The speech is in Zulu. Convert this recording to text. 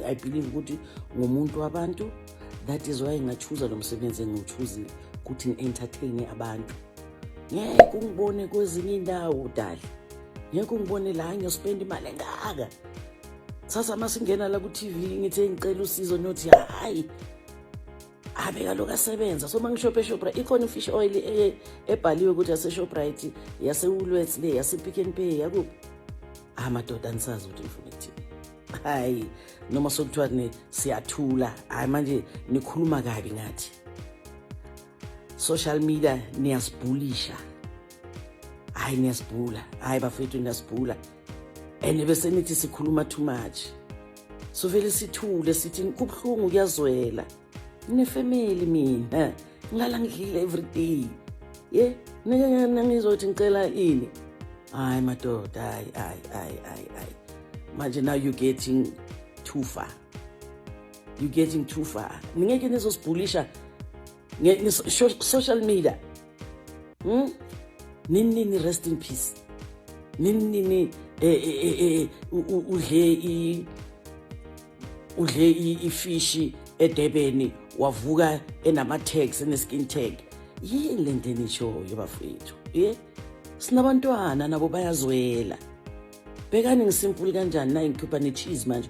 i believe ukuthi ngumuntu wabantu that is why ngachuza lo msebenzi engiwuchuzile ukuthi ngi-entertaine abantu ngeke ungibone kwezinye indawo dali ngeke ungibone la ngiyospenda imali engaka sasa uma singena la ku-tv ngithe ngicela usizo niyothi hhayi abe kaloku asebenza so uma ngishophe eshoprite ikhona i-fish oil e, ebhaliwe ukuthi yaseshoprite yasewulwets le yasepick and pay yakuphi ah madoda andisazi ukuthi ngifuna ekuthini hayi noma sokuthiwa ni siyathula hayi manje nikhuluma kabi ngathi social media niyasibhulisha hayi niyasibhula hayi bafethu niyasibhula and bese nithi sikhuluma too much sovele sithule sithi kubuhlungu kuyazwela nginefamily mina ngilala ngidlile everyday ye nangizothi ngicela ini hayi madoda hayi hayi hayi hayi hayi manje now you getting too far you getting too far ningeke nizosibhulisha social media hmm? nini nini rest in peace nini nini eh, eh, eh, udle i udle ifishi edebeni wavuka enama-tags eneskin tag yini le nto enishoyo bafethu ye sinabantwana nabo bayazwela bekani ngisimpuli kanjani nayi ngikhupha ne-cheese manje